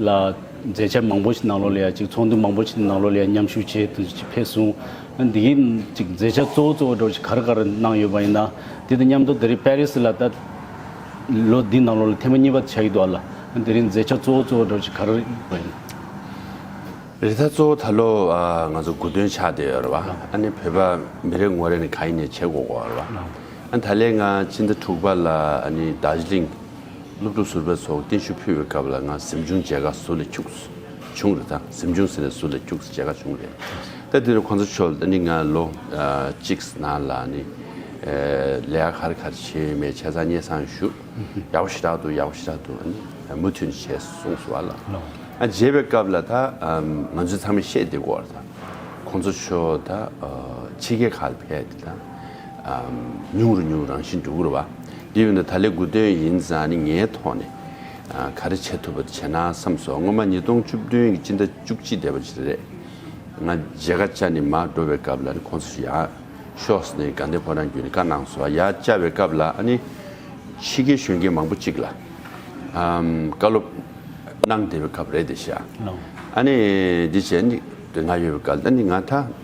ལ། མཛད་འཆར་མང་པོ་ཞིག་གནང་ལོ་ལ་ཡ་ཅིག་ཚོགས་འདུ་མང་པོ་ཞིག་གནང་ལོ་ལ་ཡ་མཉམ་ཞུགས་བྱས་ཐུབ་ཅིག་ཕེབས་སོང། འདི་གའི་ཅིག་མཛད་འཆར་གཙོ་བོ་གཙོ་བོ་འགྲོ་ཞིག་གར་གར་གནང་ཡོད་པ་ཡིན་ན། དེ་དང་མཉམ་དུ་དེ་རིང་པེ་རི་སི་ལ་ད། ལོ་འདི་ནང་ལོ་ལ་ཐེངས་མ་གཉིས་པ་བྱ་ཡི་འདུག་ཨ་ལ། དེ་རིང་མཛད་འཆར་གཙོ་བོ་གཙོ་བོ་འགྲོ་ཞིག་གར་ཡོད་པ་ཡིན་ན། རེ་ད་གཙོ་བོ་ད་ལོ་ང་ཚོ་དགུ་དོན་ཆགས་བསྡད་ཡོད་རེད་བ། ཨ་ནི་བོད་པ་མི་རེ་ངོ་རེ་ནི་ག་ཡིན་ནས་བྱེད་དགོ་གོ་རེད་བ། ཨ་ད་ལས་ང་ཕྱི་ཟླ་དྲུག་པ་ལ་ཨ་ནི་རྡ་ཟི་ལིང། སློབ་ཕྲུག་ཟུར་པའི་ཚོགས་རྟེན་ཞུ་ཕུལ་བའི་སྐབས་ལ་ང་གཟིམ་ཆུང་མཇལ་ཁ་ཟུར་ལས་འཁྱུག་བྱུང་རེད་ད་གཟིམ་ཆུང་ཟེར་ནས་ཟུར་ལས་འཁྱུག་མཇལ་ཁ་བྱུང་རེད་ད་དེ་རུ་ཁོང་ཚོ་ཆོལ་ནི་ང་ལོ་གཅིག་ན་ལ་ནི་ལས་ཀ་ག་རེ་ག་རེ་བྱས་ཡོད་མེད་བྱས་ཙང་སྙན་སང་ཞུ་ཡག་པོ་ཞེ་དྲག་འདུག་ཡག་པོ་ཞེ་དྲག་འདུག་ཨ་ནི་མུ་མཐུད་ནས་བྱས་གསུངས་སོང་བ་ལ་མཇལ་བའི་སྐབས་ལ་ད་ང་ཚོས་ཚང་མས་ཤེས་དེ་སྐོར་ད་ཁོང་ཚོ་ཆོལ་ད་ཕྱི་རྒྱལ་ཁག་ལ་ཕེབས་ཏེ་ད། ཉུང་རུ་ཉུང་རང་བཞིན་འགྲོ་ཀུར་བ། དེ་བས་ན་ད་ལས་དགུ་དོན་ཡིན་ཙང་ནི་ངའི་ཐོག་ནས། ག་རེ་བྱེད་ཐུབ་པ་དེ་བྱས་ན་བསམས་སོ། སྔོན་མ་ཉིས་སྟོང་བཅུ་བདུན་གྱི་སྤྱི་ཟླ་བཅུ་གཅིག་འདས་པ་ཞིག་རེད། ང་རྗེ་ཀ་ཅཱ་ནི་མར་འགྲོ་བའི་སྐབས་ལ་ནི་ཁོང་ཚོས་ཡག་ཤོས་ནི་དགའ་ལྡན་ཕོ་བྲང་བརྒྱུད་ནས་བཀའ་གནང་སོང་ཡ་ཅཱ་བའི་སྐབས་ལ་ནི། ཕྱི་རྒྱལ་གཞོན་སྐྱེས་མང་པོ་གཅིག་ལ། བཀའ་སློབ་གནང་བདེ་བའི་སྐབས་རེད་དེ་ཤ། ཨ་ནི་དེ་བྱས་ནི་དེ་ང་ཡོད་པའི་སྐབས་ལ་ནི་ང་ད།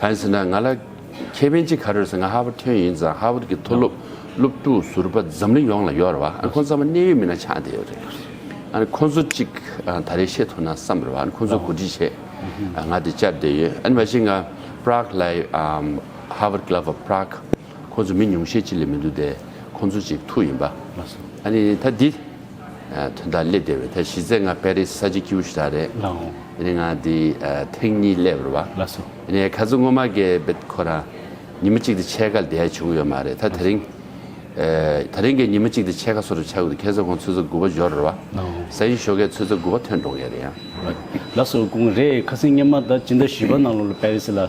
གང་ཟེར་ན་ང་ལ་ཁེ་ཕན་ཅི་ག་རེ་རེ་ཟེར་ང་ཧར་བར་ཐོན་ཡིན་ཙང་ཧར་བར་གྱི་མཐོ་སློབ་སློབ་ཕྲུག་ཟུར་པ་འཛམ་གླིང་ཡོངས་ལ་ཡོད་རེད་བ་ཨ་ནི་ཁོང་ཚང་མ་གནད་ཡོད་མི་སྣ་ཆགས་བསྡད་ཡོད་རེད་ཨ་ནི་ཁོང་ཚོ་ཅིག་ད་རེས་ཤེས་ཐུབ་ན་བསམ་རེད་བ་ཨ་ནི་ཁོང་ཚོ་གོ་སྒྲིག་བྱས་ང་དེ་བཅར་བསྡད་ཡོད་ཨ་ནི་མ་གཞི་ང Prague ལ་ཧར་བར་གི་ལ་བ Prague ཁོ་ཚོ་མི་ཉུང་ཤས་ཅི་ལས་མི་འདུག་སྟེ་ཁོ་ཚོ་ཅིག་ཐུག་ཡིན་པ། ཨ་ནི་ད་འདི། དོན་དག་སླེབས་བདེ་བས་ད་གཞི་རྩའི་ང་པེ་རིས་ས་ཆ་སྐྱིད་བོ་ཞིག་ད་རེད། ཨ་ནི་ང་འདི་ཐེངས་གཉིས་སླེབས་རོ་བ། ཨ་ནི་ཁ་ཚོ་སྔོན་མ་གས་བེད་ཁོ་རང་ཉིན་མ་གཅིག་དེ་ཕྱེད་ཀ་ལྡད་བྱུང་ཡོད་མ་རེད་ད་དེ་རིང། ད་རིང་གས་ཉིན་མ་གཅིག་དེ་ཕྱེད་ཀ་སོ་རེ་ཆག་གོ་དེ་ཁས་ཚོ་ཁོང་ཚོས་ཚོ་དགུ་བ་འཇོ་རོ་བ། ས་ཡིན་ཞོ་གས་ཚོས་ཚོ་དགུ་བ་ཐོན་འགྲོ་ངེས་རེད་ཡང། ལ་སོ་དགུང་རེད་ཁ་སིང་སྔན་མ་ད་ཅི་འདྲ་བཞུས་པ་ནང་ལོ་ལོ་པེ་རིས་ལ།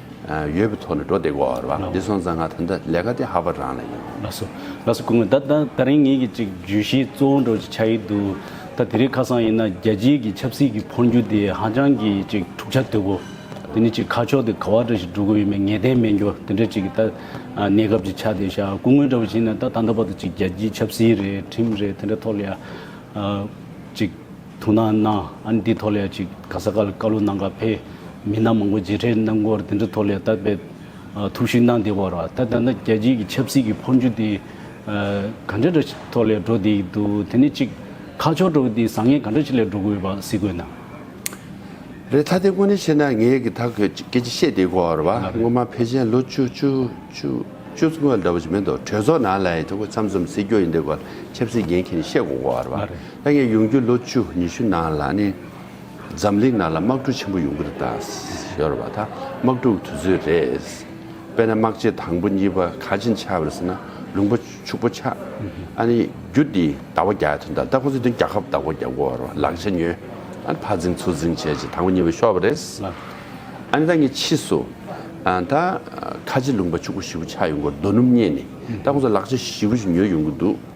ཡོད་པའི་ཐོག་ནས་འགྲོ་བདེ་གོ་ར་བ་འདི་སོང་ཙང་ང་ད་ལྟ་ལས་ཀ་དེ་ཧ་བ་རང་ལ་ཡིན། ལགས་སོ། ལགས་སོ་སྐུ་ངོ། ད་ད་རིང་ངེད་ཀྱི་ཅིག་བརྗོད་གཞི་གཙོ་བོ་འགྲོ་ཅིག་ཆགས་ཡི་འདུག་ད་དེ་རིགས་ཁ་སང་ཡིན་ན་རྒྱལ་སྤྱིའི་གི་ཆབ་སྲིད་གི་འཕོ་འགྱུར་དེ་ཧ་ཅང་གི་ཅིག་འཁྲུག་ཆ་དོད་པོ། དེ་ནི་ཅིག་ཁ་ཕྱོགས་དེ་ག་བ་འདྲ་ཞིག་འགྲོ་དགོས་ཡོད་མེད་ངེས་གཏན་མེད་འགྱོ་དེ་འདྲ་ཅིག་གི་ད་གནས་སྐབས་ཅིག་ཆགས་བསྡད་ཤག་སྐུ་ངོ་འདྲ་བོ་བྱིན་ན་ད་ད་ལྟ་བར་དུ་ཅིག་རྒྱལ་སྤྱིའི་ཆབ་སྲིད་རེད་ཁྲིམས་རེད་དེ་འདྲ་ཐོག་ལ་ཡ། ཅིག། ཐུགས་སྣང་གནང། ཨ་ནི་འདི་ཐོག་ལས་ཅིག་ག་ས་ག་ལ་བཀའ་བློ་གནང་ག་ཕེ། མི་སྣ་མང་པོ་མཇལ་འཕྲད་གནང་སྐོར་འདི་འདྲ་ཐོག་ལས་ལྟ་དཔེ། ཐུགས་ཞུས་གནང་བདེ་བ་ར་ད་ད་ན་རྒྱལ་སྤྱིའི་གི་ཆབ་སྲིད་གི་འཕོ་འགྱུ་དེ། ག་འདྲ་འདྲ་ཐོག་ལས་འགྲོ་བདེ་ཡི་འདུག་དེ་ནི་གཅིག། ཁ་ཕྱོགས་འགྲོ་དེ་བཟང་ངན་ག་འདྲ་ཅིག་ལས་འགྲོ་དགོས་པ་གཟིགས་དགོས་ན། རེད་ད་དེ་དངོས་གནས་བཤད་ན་ངས་གི་ད་ཁོས་ཅིག་སྐད་ཅིག་བཤད་བདེ་གོ་ར་བ་སྔོན་མ་ཕེ་ཆེན་ལོ་བཅུ་བཅུ་བཅུ་བཅུ་ཚུ་ངོས་འདྲ་བོ་ཅིག་མེད་འདུག་གྲོས་ཚོགས་ནང་ལ་ཡི་ཐུགས་ཁོས་མཚམས་མཚམས་སྲིད་སྐྱོ་ཡི་འདི་གོ་ལ་ཆབ་སྲིད་འགན་ཁེ་ནི་བཤད་གོ་གོ་ར་བ། ད་ངས་ཡོང་རྒྱུའི་ལོ་བཅུ་ཉི་ཤུ་ནང་ལ་ནི་འཛམ་གླིང་ནང་ལ་དམག་འཁྲུག་ཆེན་པོ་ཡོང་གི་རེད་ད། ཤོར་བ་ད་དམག་འཁྲུག་དུས་ཚོད་རེད། དཔེར་ན་དམག་ཆས་དང་པོ་གཉིས་པ་ག་ཅིན་ཆགས་པ་རེད་ཟེར་ན་ལུང་པ་ཕྱུག་པོ་ཆགས། ཨ་ནི་རྒྱུ་དེ་ཟླ་བ་བརྒྱ་ཡོད་དོན་དག་ད་ཁོ་ཚོས་དོན་རྒྱག་ཁབ་ཟླ་བ་བརྒྱ་འགོར་བ་རོགས་ལག་ཆ་ཉོས། ཨ་ནི་ཕར་འཛིང་ཚུར་འཛིང་བྱས་རྗེས་དང་པོ་གཉིས་པ་ཤོར་བ་རེད། ཨ་ནི་ད་ངས་ཕྱིས་སུ་ད་ཁ་ཅིན་ལུང་པ་ཕྱུག་པོ་བཞི་བོ་ཆགས་ཡོང་གི་རྡོ་སྣུམ་བསྙལ་ནས་ད་ཁོ་ཚོས་ལག་ཆ་བཞི་བོ་ཞིག་ཉོས་ཡོང་གི་འདུག།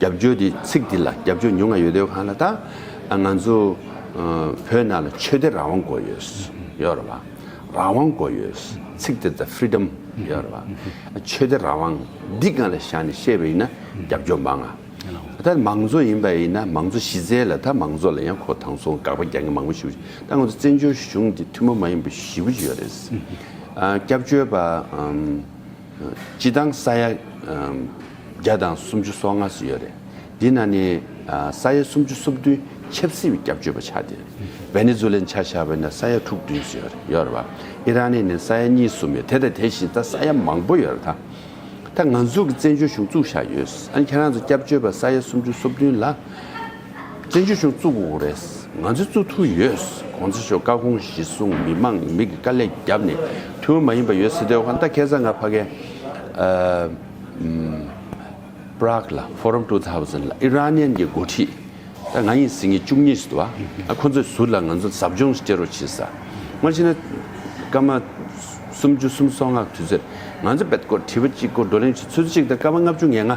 རྒྱབ་སྐྱོར་དེ་ཚིག་འདི་ལ་རྒྱབ་སྐྱོར་ཉུང་ང་ཡོད་དོད་གང་ལ་ད་ང་ཚོ་བོད་ནང་ལ་ཆོས་དད་རང་དབང་དགོས་ཡོད་ཡོད་རེད་བ། རང་དབང་དགོས་ཡོད་ཚིག་དེ་ད Freedom ཡོད་རེད་བ། ཆོས་དད་རང་དབང་འདི་གང་ལ་བཞག་ནས་བཤད་པ་ཡིན་ན་རྒྱབ་སྐྱོར་མང་ང། ད་མང་གཙོ་ཡིན་པ་ཡིན་ན་མང་གཙོ་གཞི་རྩའི་ལ་ད་མང་གཙོ་ལ་ཡང་ཁོ་དང་སོང་དགག་པ་རྒྱག་མཁན་མང་པོ་ཞིག་བཞི་ད་ང་ཚོ་བཙན་བྱོལ་གཞུང་འདི་ཐུན་མོང་མ་ཡིན་པ་བཞི་པོ་ཅིག་ཡོད་རེད། སྐྱབས་བཅོལ་བ། སྤྱི་དང་ས་ཡ་བརྒྱ་དང་སུམ་ཅུ་སོ་ལྔ་སུ་ཡོད་རེད། འདི་ན་ནི་ས་ཡ་སུམ་ཅུ་སོ་བདུན་ཆབ་སྲིད་བསྐྱབ་བཅོས་པ་ཆགས་ཏེ། བེ་ནེ་ཛུ་ལན་ཆ་བཞག་པས་ན་ས་ཡ་དྲུག་བདུན་སུ་ཡོད་རེད་ཡོད་རེད་བ། ཨི་རན་ནི་ནི་ས་ཡ་གཉིས་གསུམ་ཡོད་དེ་དང་དེ་བཞིན་ད་ས་ཡ་མང་པོ་ཡོད་རེད་ད། ད་ང་ཚོ་གི་བཙན་བྱོལ་གཞུང་བཙུགས་བཞག་ཡོད། ཁྱེད་རང་ཚོ་བསྐྱབ་བཅོས་པ་ས་ཡ་སུམ་ཅུ་སོ་བདུན་ལ། བཙན་བྱོལ་གཞུང་བཙུགས་འོག་རེས་ང་ཚོའི་བཙུགས་ཐུབ་ཡོད། གོང་ཚེ་ཤོག་བཀའ་དགོངས་གཞི་བཟུང་མི་མང་མིག་གི་དཀའ་ལས་བརྒྱབ་ནས་ཐུ་བོ་མ་ཡིན་པ་ཡོད་སྲིད་དོན་ཧོན་ཏ་ཁེ་ས་ང་ཕ་གའི Prague ལ Forum Two Thousand ལ་ཨི་རན་ནན་གྱི་མགོ་ཁྲིད་ད་ང་ཡིན་སྲིད་ངེས་བཅུ་གཉིས་སུ་དུ་བ་ཁོ་ཚོས་ཟུར་ལ་ང་ཚོ་ཟབ་སྦྱོང་སྤྱི་རོ་བྱེད་ས་སྔར་ཕྱིན་ན་སྐར་མ་སུམ་ཅུ་སུམ་སོ་ལྔ་དུས་ཚོད་ང་ཚོས་བེད་སྐོར་དྲི་བ་གཅིག་སྐོར་བགྲོ་གླེང་བྱེད་ཚོད་ཅིག་ད་སྐར་མ་ལྔ་བཅུ་ངེ་ལྔ།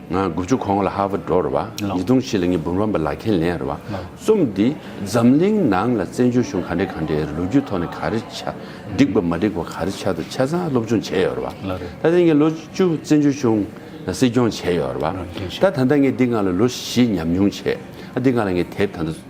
ང་དགུ་བཅུ་གོང་ལ་ཧར་བར་འགྲོ་རུ་བ། ཉིས་སྟོང་བཞི་ལ་ངས་འབུམ་རམས་པ་ལག་འཁྱེར་ལེན་རུ་བ། རྩོམ་འདི་འཛམ་གླིང་ནང་ལ་བཙན་བྱོལ་གཞུང་ག་འདྲའི་ག་འདྲའི་ལོ་རྒྱུས་ཐོག་ནས་ག་རེ་ཆ་འགྲིག་པ་མ་འགྲིག་པ་ག་རེ་ཆ་དང་ཆ་ཚང་སློབ་སྦྱོང་བྱས་ཡོད་རུ་བ། ད་ལྟ་ངས་ལོ་བཅུ་བཙན་བྱོལ་གཞུང་སྲིད་སྐྱོང་བྱས་ཡོད་རུ་བ། ད་ད་ལྟ་ངས་འདི་སྔ་ལ་ལོ་བཞི་ཉམས་མྱོང་བྱས། འདི་སྔ་ལ་ངས་དེབ་ད་ལྟ།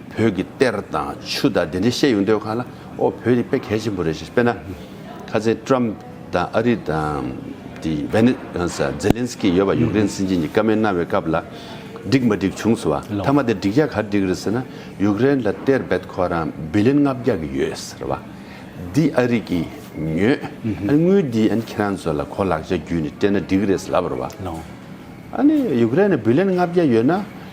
བོད་ཀྱི་གཏེར་དང་ཆུ་དང་དེ་འདྲའི་བཤད་ཡོང་དུས་ཁ་ལ་ཨོ་བོད་རིག་པའི་གལ་ཆེན་པོ་རེད་ཞེས་དཔེར་ན་ཁ་ཚའི Trump དང་ཨ་རི་དང Zelensky ཡོད་པ་ཡུཀ་རེན་སྲིད་འཛིན་གྱི་བཀའ་མའི་གནང་བའི་སྐབས་ལ་བསྒྲིགས་མ་བསྒྲིགས་བྱུང་ཟེར་བ་མཐའ་མ་དེ་བསྒྲིགས་རྒྱ་གར་བསྒྲིགས་རེད་ཟེར་ན་ཡུཀ་རེན་ལ་གཏེར་བེད་ཁོ་རང་བི་ལིན་ལྔ་བརྒྱ་གི་ཡོད་ཟེར་བ་འདི་ཨ་རིག་གིས་ཉོས་ཨ་དངུལ་འདི་ཨ་ཁྱེད་རང་ཚོ་ལ་གོ་ལག་ཆ་བརྒྱུད་ནས་སྤྲད་ན་འགྲིག་རེད་ཟེར་ལབ་རེད་བ་ཨ་ནི་ཡུཀ་རེན་ལ་བི་ལིན་ལྔ་བརྒྱ་ཡོད་ན།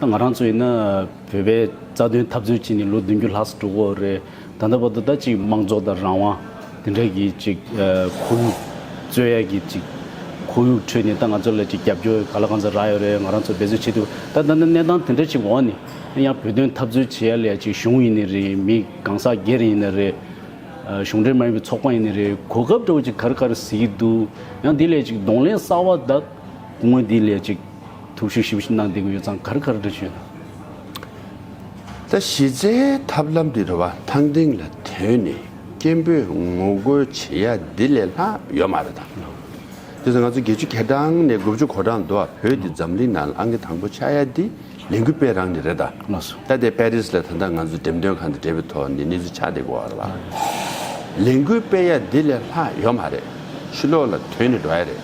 ད་ང་རང་ཚོ་ཡིན་ན་བོད་པའི་རྩ་དོན་འཐབ་རྩོད་བྱས་ནས་ལོ་བདུན་ཅུ་ལྷག་སུ་འགྲོ་གོ་རེད། ད་ལྟ་བར་དུ་ད་ཅིག་མང་གཙོ་དང་རང་དབང་དེ་འདྲ་གི་ཅིག་ཁོར་ཡུག་རྩོད་ཡ་གི་ཅིག་ཁོར་ཡུག་ཁྲོད་ནས་ད་ང་ཚོ་ལ་ཅིག་རྒྱབ་སྐྱོར་ག་ལ་གང་ཟག་རག་ཡོད་རེད་ང་རང་ཚོ་འབད་རྩོལ་བྱེད་ཐུབ་ད་ད་ནི་གནས་སྟངས་དེ་འདྲ་ཅིག་འོག་ནས་ཡང་བོད་དོན་འཐབ་རྩོད་བྱེད་ཡ་ལ་ཡ་ཅིག་གཞུང་ཡིན་ནི་རེད་མི་གང་ཟག་སྒེར་ཡིན་ནི་རེད། གཞུང་འབྲེལ་མ་ཡིན་པའི་ཚོགས་པ་ཡིན་ནི་རེད་གོ་སྐབས་འདྲ་བོ་ཅིག་གར་གར་ཟེར་གྱི་འདུག་ཡང་དེ་ལ་ཡ་ཅིག་གདོང་ལེན་གསར་བ་དག་དངོས་འདི་ལ་ཡ་ཅིག། ཐུགས་ཞུ་ཞིབ་གནང་འདི་གུ་ཡོད་ཙང་གར་གར་འབྲི་ཞུ་ཡོད། ད་གཞི་རྩའི་ཐབས་ལམ་འདི་རུ་བ་ཐང་སྟེང་ལ་དོན་ནི་སྐྱེན་པོས་ངོ་རྒོལ་བྱེད་ཡ་འདི་ལས་ལྷག་ཡོད་མ་རེད་དམ། དེ་ཚོ་ང་ཚོ་བརྒྱད་ཅུ་གྱ་གྲངས་ནས་དགུ་བཅུ་གོ་གྲངས་འདུག་ཨ་བོད་འདི་འཛམ་གླིང་ནང་ལ་ཨ་ངེ་དང་པོ་ཆགས་ཡ་འདི་ལས་འགུལ་སྤེལ་རང་ནི་རེད་ད། ད་དེ་པེ་རིས་ལ་ད་ལྟ་ང་ཚོ་འགྲེམས་སྟོན་ཁང་དུ་འབྲེལ་བའི་ཐོག་ནས་གནས་ཚུལ་ཆ་འདི་གོ་ར་ལ། ལས་འགུལ་སྤེལ་ཡ་འདི་ལས་ལྷག་ཡོད་མ་རེད། ཕྱི་ལོགས་ལ་དོན་ནི་འགྲོ་ཡ་རེད།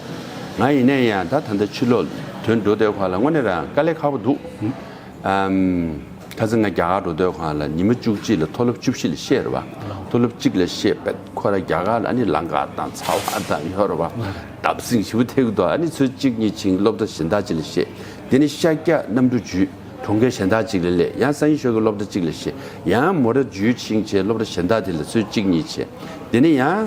ང་ཡིན་ནའི་ཡང་ད་ད་ལྟ་ཕྱི་ལོགས་དོན་འགྲོ་སྡོད་ཁང་ལ་དངོས་གནས་རང་དཀའ་ལས་ཁག་པོ་འདུག། ཨམ། ཁ་ཚ་ང་རྒྱ་གར་འགྲོ་སྡོད་ཁང་ལ་ཉི་མ་བཅུ་གཅིག་ལ་མཐོ་སློབ་བཅུ་བཞི་ལ་བཤད་རེད་བ། མཐོ་སློབ་གཅིག་ལ་བཤད་པ་ཁོ་ར་རྒྱ་གར་ལ་ཨ་ནི་ལང་ཀ་དང་ཚ་བ་དང་ཡོད་རེད་བ། འདབ་བསིང་བཞི་བོ་ཐེག་གུ་དོག་ཨ་ནི་ཚོད་གཅིག་གཉིས་བྱིན་སློབ་གྲ་གཞན་དག་ཅིག་ལ་བཤད། དེ་ནི་ཤཱཀྱ་གནམ་གྲུ་བརྒྱུད་གྲོང་ཁྱེར་གཞན་དག་ཅིག་ལ་སླེབས་ཡང་སངས་ཡིན་ཤོ་གི་སློབ་གྲ་གཅིག་ལ་བཤད། ཡང་མོ་ར་བརྒྱུད་ཕྱིང་ཆེན་སློབ་གྲ་གཞན་དག་དེ་ལ་ཚོད་གཅིག་གཉིས་བྱས། དེ་ནི་ཡང།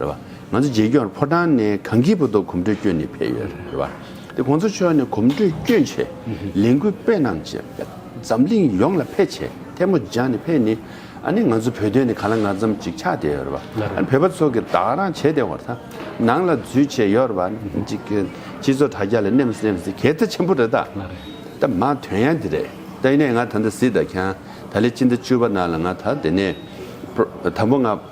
རེད་བ། ང་ཚོ་རྗེས་འགྱུར་ཕོ་བྲང་ནས་གངས་སྐྱིད་པོ་ཏོ་གོམ་བགྲོད་བསྐྱོད་ནས་ཕེབས་ཡོད་རེད་བ། དེ་ཁོང་ཚོ་ཕྱོགས་ནས་གོམ་བགྲོད་བསྐྱོད་རྗེས་ལས་འགུལ་སྤེལ་གནང་རྗེས་འཛམ་གླིང་ཡོངས་ལ་ཕེབས་བྱས་ཐལ་མོ་སྦྱར་ནས་ཕེབས་ནས་ཨ་ནི་ང་ཚོ་བོད་དོན་ནི་ག་ལ་ང་ཙམ་ཅིག་ཆགས་བསྡད་ཡོད་རེད་བ། ཨ་ནི་བོད་པ་ཚོ་གི་བདག་རང་བྱས་བསྡད་འོང་ཐང་ནང་ལ་འཛུལ་བྱས་ཡོད་རེད་བ། སྤྱི་ཚོགས་དྲ་རྒྱ་ལ་གནས་མི་གནས་མི་གལ་ཚ་ཆེན་པོ་རེད་ད། ད་མ་དོན་ཡང་འདི་རེད་ད་ཡིན་ནས་ང་ད་ལྟ་གཟིགས་ད་ཁྱང་ད་ལས་སྤྱི་ཟླ་བཅུ་བ་ནང་ལ་ང་ད་དེ་ནས་ད་བོ་ང།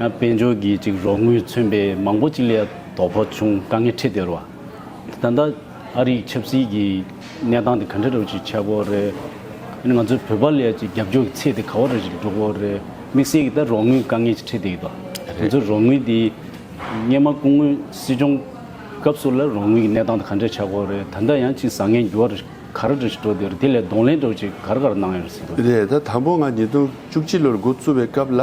ཡང་དཔལ་འབྱོར་གྱི་ཅིག་རོགས་དངུལ་མཚོན་པའི་མང་པོ་ཅིག་ལས་དོ་ཕོ་བྱུང་དཀའ་ངལ་འཕྲད་སྡོད་རོགས། ད་ལྟ་ཨ་རིག་ཆབ་སྲིད་ཀྱི་གནས་སྟངས་དེ་ག་འདྲ་རོགས་ཅིག་ཆགས་དགོས་རེད། ང་ཚོའི་བོད་པ་ལས་ཅིག་རྒྱབ་སྐྱོར་གྱི་ཚད་དེ་ག་བ་རོགས་ཅིག་འགྲོ་དགོས་རེད་དམིགས་བསལ་གྱི་ད་རོགས་དངུལ་དཀའ་ངལ་ཅིག་འཕྲད་སྡོད་དགོས་ང་ཚོའི་རོགས་དངུལ་དེ་སྙེ་མ་སྐུ་ངོས་སྲིད་སྐྱོང་སྐབས་སུ་ལ་རོགས་དངུལ་གྱི་གནས་སྟངས་དེ་ག་འདྲ་ཆགས་དགོས་རེད་ད་ལྟ་ཡང་ཅིག་བཟང་ངན་འགྱུར་བ་རོགས་ག་ར་འདྲ་ཞིག་འགྲོ་སྡོད་རེད་དེ་ལས་གདོང་ལེན་རོགས་ཅིག་ག་ར་ག་ར་གནང་ཡོད་རེད་སྲིད་དོན། རེད་ད་དང་པོ་ང་ཉིས་སྟོང་བཅུ་གཅིག་ལོར་འགོ་བཙུགས་པའི་སྐབས་ལ།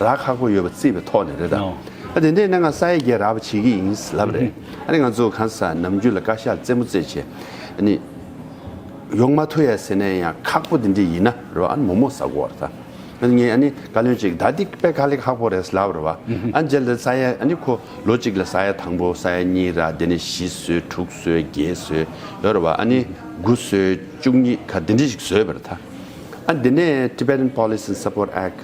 རག་ཁག་པོ་ཡོད་པ་བརྩིས་པའི་ཐོག་ནས་རེད་ད། ཨ་དེ་འདྲའི་གནད་འགག་ས་ཡ་བརྒྱད་རག་པ་བྱེད་ཀྱི་ཡིན་ལབ་རེད། ཨ་ནི་ང་ཚོ་གང་ཟག་ནམ་རྒྱུན་ལ་བཀའ་ཤག་རྩེད་མོ་རྩེད་བྱེད། ཨ་ནི། ཡོང་མ་ཐུ་ཡ་ཟེར་ནས་ཡང་ཁག་པོ་དེ་འདྲས་ཡིན་ན་རེད་བ་ཨ་ནི་མོ་མོ་ཟ་གོ་རེད་ད། ཨ་ནི་ངས་ཨ་ནི་བཀའ་བློན་གཅིག་ད་འདི་པད་ཁ་ལེགས་ཁག་པོ་རེད་ལབ་རེད་བ། ཨ་ནི་འཇལ་དེ་ས་ཡ་ཨ་ནི་ཁོ་ལོ་གཅིག་ལ་ས་ཡ་དང་པོ་ས་ཡ་གཉིས་རག་དེ་ནས་བཞི་བཟོས་དྲུག་བཟོས་བརྒྱད་བཟོས་ཡོད་རེད་བ་ཨ་ནི་དགུ་བཟོས་བཅུ་གཉིས་ག་དེ་འདྲས་ཞིག་བཟོས་པ་རེད་ད། ཨ་ནི་དེ་ནས Tibetan Police and Support Act།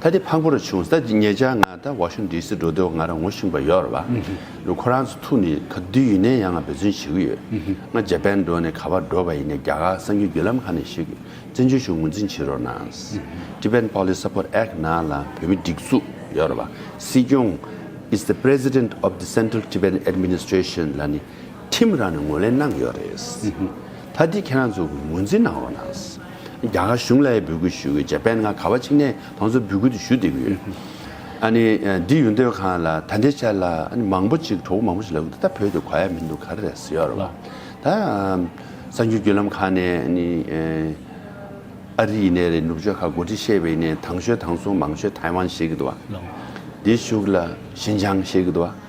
ད་དེ་ཕག་པོ་རུ་བྱུང་ས་ཀྱི་ངེད་ཅག་ང་ད་བ་ཤུ་འདི་སི་འགྲོ་འདོད་ང་རང་ངུ་ཤིང་པ་ཡོར་བ་ལུ་ཁོ་རང་ཚོ་ཐུག་ནི་ད་དུས་ཡུན་ནན་ཡ་ང་འབད་བརྩོན་བྱེད་གི་ཡོད་ང་རྗ་པན་འགྲོ་ནི་ག་བ་འགྲོ་བ་ཡིན་ནས་རྒྱ་གར་སངས་རྒྱུ་རྒྱུ་ལམ་ཁ་ནས་ཞིག་བཙན་བྱོལ་བཞུགས་ངོ་འཛིན་བྱེད་རོགས་གནང། Tibetan Police Support Act ནང་ལ་བོད་མི་སྒྲིག་འཛུགས་ཡོར་བ་སྲིད་སྐྱོང is the president of the Central Tibetan Administration ལ་ནི་ཁྲིམས་རང་ནས་ངོས་ལེན་གནང་གི་ཡོད་རེད། ད་འདི་ཁྱེད་རང་ཚོས་ངོས་འཛིན་གནང་རོགས་གནང། རྒྱ་གར་གཞུང་ལ་ཡང་འབོད་སྐུལ་ཞུ་གི་ཡོད་དཔལ་ནག་ག་བ་ཆིག་ནས་ཁོང་ཚོ་འབོད་སྐུལ་དུ་ཞུ་བསྡད་གི་ཡོད། ཨ་ནི་འདི་ཡོད་འདོད་ཁང་ལ་ད་འདི་ཆ་ལ་ཨ་ནི་མང་པོ་ཅིག་གྲོགས་པོ་མང་པོ་ཞིག་ལབ་གི་འདུག་ད་བོད་དུ་གོ་ཡ་མི་འདུག་ག་རེ་རེད་ཟེར་བ། ད་གསར་འགྱུར་བརྒྱུད་ལམ་ཁག་ནས་ཨ་ནི་ཨ་རི་ཡིན་ནས་རེད་ནུབ་ཕྱོགས་ཁ་སྒོ་དྲི་ཤེས་པ་ཡིན་ནས་དང་ཤོད་དང་སོང་མང་ཤོད་ཐའེ་ཝན་ཞེས་གི་འདུག་བ། འདི་ཞུགས་ལ་ཞིན་ཅང་ཞེས་གི་འདུག་བ།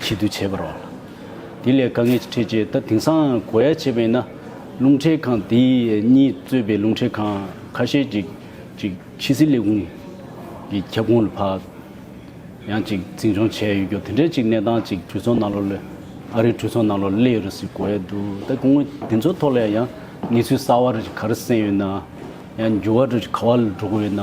ཆེད་དུ་བྱས་པར་འོང་ལ། དེ་ལས་དཀའ་ངལ་འཕྲད་ཆེད་ད་དེང་སང་གོ་ཡ་བྱས་པ་ཡིན་ན། རླུང་འཕྲིན་ཁང་དེ་གཉིས་གཙོས་པའི་རླུང་འཕྲིན་ཁང་ཁ་ཤས་ཀྱིས་ཅིག་ཕྱི་སྲིད་ལས་ཁུངས་ཀྱི་ཁྱབ་ཁོངས་ལ་ཕ་ཡང་ཅིག་འཛིན་སྐྱོང་བྱས་ཡོད་རྒྱུ་དེ་འདྲའི་ཅིག་གནས་སྟངས་ཅིག་གྲོས་ཚོགས་ནང་ལོ་ལོས་ཨ་རིའི་གྲོས་ཚོགས་ནང་ལོ་ལོས་ཡོད་རེད་ཟེར་གོ་ཡ་འདུག་ད་དགོངས་མོ་དེ་ཚོ་ཐོག་ལ་ཡང་གནས་ཚུལ་གསར་བ་རེ་ག་རེ་གསན་ཡོད་ན། ཡང་འགྱུར་བ་རེ་ག་བ་ལ་འགྲོ་གི་ཡོད་ན།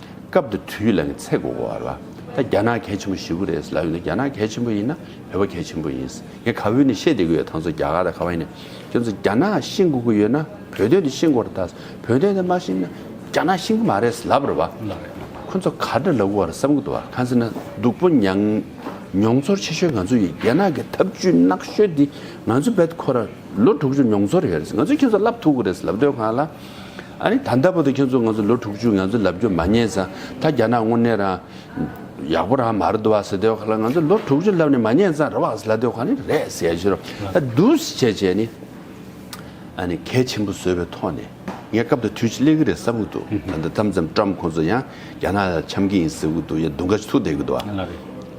སྐབས་དེ་དུས་ལ་ངའི་ཚེ་སྒོ་བ་ལ་ད་རྒྱ་ནག་གལ་ཆེན་པོ་བཞི་བོ་རེད་ལབ་ཡོང་ན་རྒྱ་ནག་གལ་ཆེན་པོ་ཡིན་ན་བོད་པ་གལ་ཆེན་པོ་ཡིན། ངས་ག་བོད་ནས་བཤད་བསྡད་ཀི་ཡོད་ད་ཚོ་རྒྱ་གར་དང་ག་བ་ཡིན་ན་ཁྱོད་ཚོ་རྒྱ་ནག་ཤེས་དགོས་ཀི་ཡོད་ན་བོད་དོན་དེ་ཤེས་དགོ་ར་ད་བོད་དོན་དེ་མ་ཤེས་ན་རྒྱ་ནག་ཤེས་གི་མ་རེད་ལབ་ར་བ། ཁོ་ཚོ་ག་འདྲ་ལབ་དགོ་བ་ར་བསམ་གི་འདུག་བ་གང་ཟེར་ན་སྡུག་པོ་མྱང། མྱོང་ཚོར་ཆེ་ཤོས་ང་ཚོ་ཡིན་རྒྱ་ནག་གི་ཐབས་ཇུས་ནག་ཤོས་དེ་ང་ཚོ་བེད་ཁོ་ར་ལོ་དྲུག་ཅུ་མྱོང་ཚོར་ཡོད་རེད་ང་ཚོ་ཁྱོད་ཚོ་ལབ་ཐུག་གི་རེད་ལབ་འདོད་གང་ལ། ཨ་རི་ད་ལྟ་བུ་དང་ཁྱོད་ཚོ་ང་ཚོ་ལོ་དྲུག་ཅུ་ང་ཚོ་ལབ་རྒྱུ་མ་རྙེད་ས་ད་རྒྱ་ནག་དངོས་གནས་རང་ཡག་པོ་རང་མ་རེད་དོ་བ་ཟེར་དོའི་ཁ་ལ་ང་ཚོ་ལོ་དྲུག་ཅུ་ལབ་ནས་མ་རྙེད་ས་རེད་བ་ཟེར་ལ་དོའི་ཁ་ནི་རེད་ཟེར་ཤི་རོ་ད་འདུས་བྱས་བྱས་ནི་ཨ་ནི་གལ་ཆེན་པོ་བཟོས་པའི་ཐོག་ནས་ངས་སྐབས་དང་དུས་ཅིག་སླེབས་ཀི་རེད་བསམ་གི་འདུག་ད་ལྟ་ཏམ་ཙམ་ཏྲམ་ཁོང་ཚོ་ཡང་རྒྱ་ནག་ལ་འཆམ་གི་ཡིན་ཟེར་གི་འདུག་ཡ་དུང་ག་ཅིག་ཐུག་བསྡད་གི་འདུག་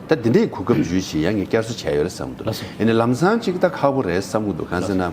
ད་འདི་འདྲའི་གོ་སྐབས་བརྗོད་བཞིན་ཡ་ངས་བསྐྱར་གསོ་བྱས་ཡོད་རེད་བསམ་གི་འདུག་ཡ་ནི་ལམ་སང་ཅིག་ད་ཁག་པོ་རེད་བསམ་གི་འདུག་གང་ཟེར་ན།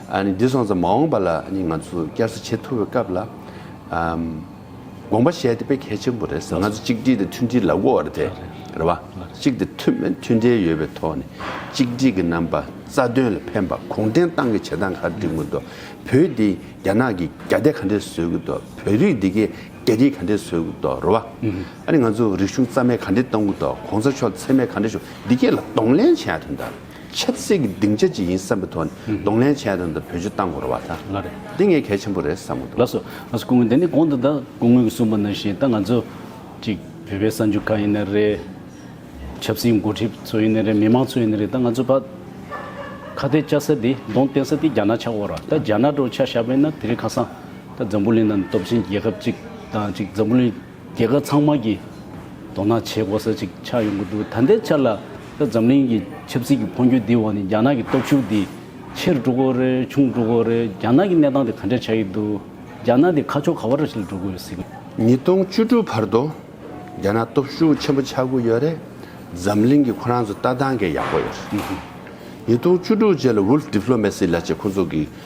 འདི་སོང་ཙམ་མ་འོངས་པ་ལ་ང་ཚོ་བསྐྱར་གསོ་བྱེད་ཐུབ་པའི་སྐབས་ལ་དགོངས་པ་བཞེས་དེ་དཔེ་གལ་ཆེན་པོ་རེད་ང་ཚོ་གཅིག་སྒྲིལ་དང་མཐུན་སྒྲིལ་ལ་དབོར་བ་དེ་རེད་བ། གཅིག་དང་མཐུན་སྒྲིལ་ཡོད་པའི་ཐོག་ནས་གཅིག་སྒྲིལ་གྱི་རྣམ་པ་རྩ་དོན་ལ་ཕན་པ་གུང་ཁྲན་ཏང་གི་བྱེད་སྟངས་ག་རེ་སྒྲིག་དགོས་འདུག་བོད་འདི་རྒྱ་ནག་གི་རྒྱ་སྡེ་ག་འདྲས་བཟོས་དགོས་འདུག་བོད་རིགས་འདི་གའི་རྒྱ་རིགས་ག་འདྲས་བཟོས་དགོས་འདུག་རེད་བ། ང་ཚོ་རིག་གཞུང་རྩ་མེད་ག་འདྲས་གཏོང་དགོས་འདུག་གོང་ས་མཆོག་འཚེ་མེད་ག་འདྲས་བྱུང་འདི་གས་ལ་གདོང་ལེན་བྱེད་ཡག་དོན་དག་རེད། ཆབ་སྲིད་ཀྱི་སྡིངས་ཆ་ཅིག་ཡིན་བསམ་པའི་ཐོག་ནས་གདོང་ལེན་བྱས་དོན་དུ་བོད་ཆུ་བཏང་དགོས་ར་བ་ད། ལ་རེད། འདི་ངས་གལ་ཆེན་པོ་རེད་བསམ་མོ་འདུག། ལ་སོ། ང་སུ་སྐུ་ངོ་འདི་ནི་གོང་དུ་ད་སྐུ་ངོས་ཀྱི་གསུངས་པ་ནང་བཞིན་ད་ང་ཚོ། ཅིག་བོད་པའི་གསར་འགྱུར་ཁག་ཡིན་ནི་རེད། ཆབ་སྲིད་འགོ་ཁྲིད་ཚོ་ཡིན་ནི་རེད་མི་མང་ཚོ་ཡིན་ནི་རེད་ད་ང་ཚོ་ཕ། ཁ་གཏད་བཅའ་ས་དེ་གདོང་བསྟན་ས་དེ་རྒྱ་ནག་ཆགས་འོག་ར་ད་རྒྱ་ནག་འགྲོ་བ་ཆགས་ཤག་པས་ན་དེ་རིང་ཁ་སང། ད་འཛམ་བུ་གླིང་ནང་སྟོབས་ཆེན་རྒྱལ་ཁབ་ཅིག་དང་ཅིག་འཛམ་བུ་གླིང། རྒྱལ་ཁབ་ཚང་མ་གིས་དོ་སྣང་བྱེད་དགོས་ས་ཅིག་ཆགས་ཡོང་གི་འདུག་ད་ལྟའི་ཆར་ལ་ད་འཛམ་གླིང་གི་ཆབ་སྲིད་ཀྱི་འཕོ་འགྱུར་འདིའི་འོག་ནས་རྒྱ་ནག་གི་སྟོབས་ཤུགས་འདི་ཆེར་འགྲོ་དགོས་རེད་ཆུང་འགྲོ་དགོས་རེད་རྒྱ་ནག་གི་གནས་སྟངས་དེ་ག་འདྲ་ཆགས་ཀྱི་འདུག་རྒྱ་ནག་འདི་ཁ་ཕྱོགས་ག་བ་ར་ཞིག་ལ་འགྲོ་དགོས་ཡོད་སྲིད། ཉིས་སྟོང་བཅུ་དྲུག་བར་དུ་རྒྱ་ནག་སྟོབས་ཤུགས་ཆེན་པོ་ཆགས་གི་ཡོད་རེད་འཛམ་གླིང་གི་ཁོ་རང་ཚོ་ལྟ་སྟངས་གས་ཡག་པོ་ཡོད་རེད། ཉིས་སྟོང་བཅུ་དྲུག་རྗེས་ལ Wolf Diplomacy ལ་ཅེས་ཁོ་ཚོ་གིས་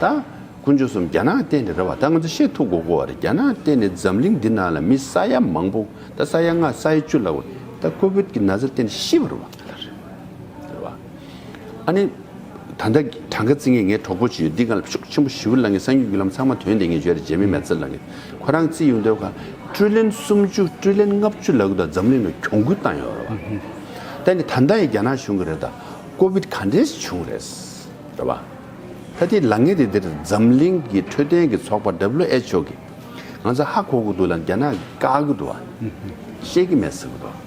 ད་དཀོན་མཆོག་གསུམ་རྒྱ་ནག་གཏན་ནས་རེད་བ་ད་ང་ཚོ་ཤེས་ཐུབ་གོ་གོ་བ་རེད་རྒྱ་ནག་གཏན་ནས་འཛམ་གླིང་འདི་ནང་ལ་མི་ས་ཡ་མང་པོ་ད་ས་ཡ་ལྔ་ས་ཡ་བཅུ་ལ་བ་ད་ཀོ་བོད་ཀྱི་ན་ཚ་གཏན་ནས་ཤི་བ་རུ་བ་ད་ལ་རེད་བ་ཨ་ནི་ད་ལྟ་གྲངས་ཀ་རྩི་ངེས་ངའི་གྲོགས་པོ་ཅིག་ཡོད་འདི་ག་ལ་ཤུགས་ཆེན་པོ་ཞི་བུ་ལ་ངའི་སངས་རྒྱུས་རྒྱུ་ལམ་ཚང་མ་དོན་དེ་ངས་བརྗོད་རེད་རྗེ་མི་མལ་ཚེ་ལ་ངས་ཁོ་རང་རྩི་ཡོང་འདོད་ག་ཀྲུའུ་ལན་སུམ་བཅུ་ཀྲུའུ་ལན་ལྔ་བཅུ་ལ་གུ་ད་འཛམ་གླིང་ནང་གྱོང་གུད་བཏང་ཡོད་རེད་བ་ད་ནི་ད་ལྟ་ཡང་རྒྱ་ནག་བྱུང་གི་རེད་ད་ཀོ་བོད་ག་འདྲས་བྱུང་རེད་རེད་བ། ད་ཐེངས་ལ་ངའི་རི་འདིར་འཛམ་གླིང་གི་འཕྲོད་བསྟེན་གྱི་ཚོགས་པ WHO གིས་ང་ཚོ་ཧ་གོ་གི་འདུག་ལ་རྒྱ་ནག་གིས་བཀག་གི་འདུག་བ། ཤེས་ཀྱི་མེད་ཟེར་གི་འདུག་བ།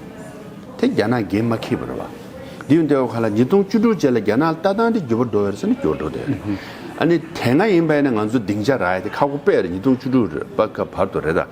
དེ་རྒྱ་ནག་འགན་མ་ཁྱེར་བར་བ། འདི་ཡང་ལྟེ་བ་ཁ་ལ་ཉིས་སྟོང་བཅུ་དྲུག་བཅས་ལ་རྒྱ་ནག་ལྟ་སྟངས་དེ་འགྱུར་བར་འགྲོ་བའི་ས་ནས་འགྱུར་འགྲོ་འདོད་རེད། ཨ་ནི་དེ་སྔ་ཡིན་པ་ཡིན་ན་ང་ཚོ་སྡིངས་ཆ་ར་ཡ་དེ་ཁ་གོ་པས་རེད་ཉིས་སྟོང་བཅུ་དྲུག་པ་ཁ་བར་དུ་རེད་ད།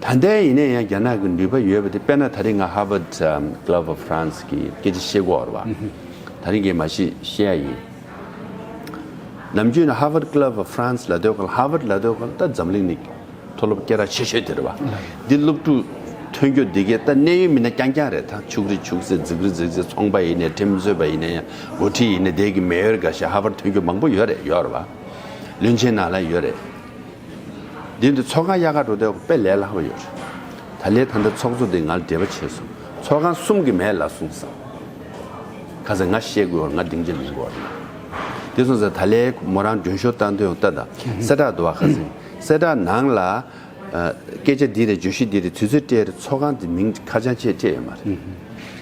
ད་ལྟའི་ཡིན་ན་ཡང་རྒྱ་ནག་གི་འགྲུལ་པ་ཡོད་པ་དེ་དཔེར་ན་ད་རིང་ང Harvard Club of France གི་སྐད་ཆ་བཤད་སྒོ་བར་བ་ད་རིང་གི་མ་ཤེས་བཤད་ཡ་ཡིན། ནམ་རྒྱུན་ན Harvard Club of France ལ་སྡོད་ཁར Harvard ལ་སྡོད་ཁར་ད་འཛམ་གླིང་ནས་མཐོ་སློབ་སྐད་ར་ཆེ་ཤོས་དེ་རེད་བ། འདི་སློབ་ཕྲུག་ཐོན་རྒྱུ་འདི་གའི་ད་གནས་ཡུལ་མིན་ན་རྐྱང་རྐྱང་རེད་ད་ཕྱུག་རི་ཕྱུག་ཟས་རྫིག་རི་རྫིག་ཟས་ཚོང་པ་ཡིན་ནས་ཁྲིམས་བཟོས་པ་ཡིན་ན་ཡང་འགོ་ཁྲིད་ཡིན་ན་དེ་གི་མེ་ཡོར་འགའ་ཤས Harvard ཐོན་རྒྱུ་མང་པོ་ཡོད་རེད་ཡོད་རེད་བ། བློན་ཆེན་ནང་ལ་ཡོད་རེད། འདི་འདྲ་ཚོགས་ཁང་དབྱར་ཁར་འགྲོ་བསྡད་ཁོ་དཔེ་ལས་སླ་བོ་ཡོད་རེད། ད་ལས་ད་ལྟ་ཚོགས་གཙོ་དེ་ང་ལ་འབྲེལ་བ་བྱས་སོང་ཚོགས་ཁང་གསུམ་གི་མས་ལ་གསུངས་སམ། ཁ་ཟེར་ང་ཤེས་དགོས་བར་ང་སྡིངས་ཆ་ལེན་དགོས་བ་རེད། འདི་སོང་ཟེར་ད་ལས་མོ་རང་མགྲོན་ཤོར་བཏང་དོན་ལྟ་དང་གསལ་བསྒྲགས་འདུག་བ་ཁ་ཟེར་གསལ་བསྒྲགས་ནང་ལ། སྐད་ཆ་འདི་རེད་བརྗོད་གཞི་འདི་རེད་དུས་ཚོད་སྤྲད་རེད་ཚོགས་ཁང་དེ་མིང་ཁ་བྱང་ཆས་སྤྲད་ཡོད་མ་རེད།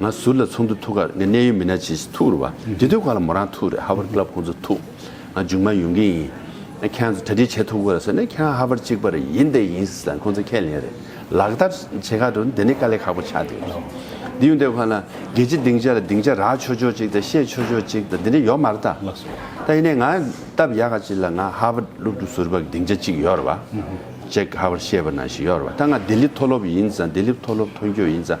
ང་ཟུར་ལ་ཚོགས་འདུ་ཐུག་ཁར་ངའི་གནད་ཡོད་མི་སྣ་ཇི་བཞིན་ཐུག་རུ་བ། དེ་དུས་ཁོ་ལ་མོ་རང་ཐུག་རེད་ཧ་བར Club ཁོང་ཚོ་ཐུག། ང་རྒྱུག་མ་ཡོང་གི་ཡིན། ཁྱེད་རང་ཚོ་གྲ་སྒྲིག་བྱེད་ཐུབ་གི་རེད་ཟེར་ནས་ཁྱེད་རང་ཧ་བར་གཅིག་པ་རེད་ཡིན་དེ་ཡིན་ཟེར་ན་ཁོང་ཚོ་ཁས་ལེན་རེད། ལག་བསྟར་བྱེད་ཁ་འགྲོ་ན་དེ་ནི་དཀའ་ལས་ཁག་པོ་ཆགས་འདུག་ལགས། འདི་ཡོང་དེ་ཁོ་ན་རྒྱལ་སྤྱི་སྡིངས་ཆ་ལ་སྡིངས་ཆ་རག་ཆོག་ཆོག་ཅིག་དང་བཤད་ཆོག་ཆོག་ཅིག་དང་དེ་འདྲ་ཡོད་མ་རེད་དཱ། ད་ཡིན་ནའི་ང་སྟབས་ཡག་ག་ཅིག་ལ་ང་ཧ་བར་སློབ་ཕྲུག་ཟུར་བ་གི་སྡིངས་ཆ་གཅིག་ཡོད་རུ་བ། ཅེག་ཧ་བར་ཤེས་པ་ན་ཞིག་ཡོད་རུ་བ་ད་ང་ལྡི་ལི་མཐོ་སློབ་ཡིན་ཙང་ལྡི་ལི་མཐོ་སློབ་ཐོན་སྐྱོད་ཡིན་ཙང་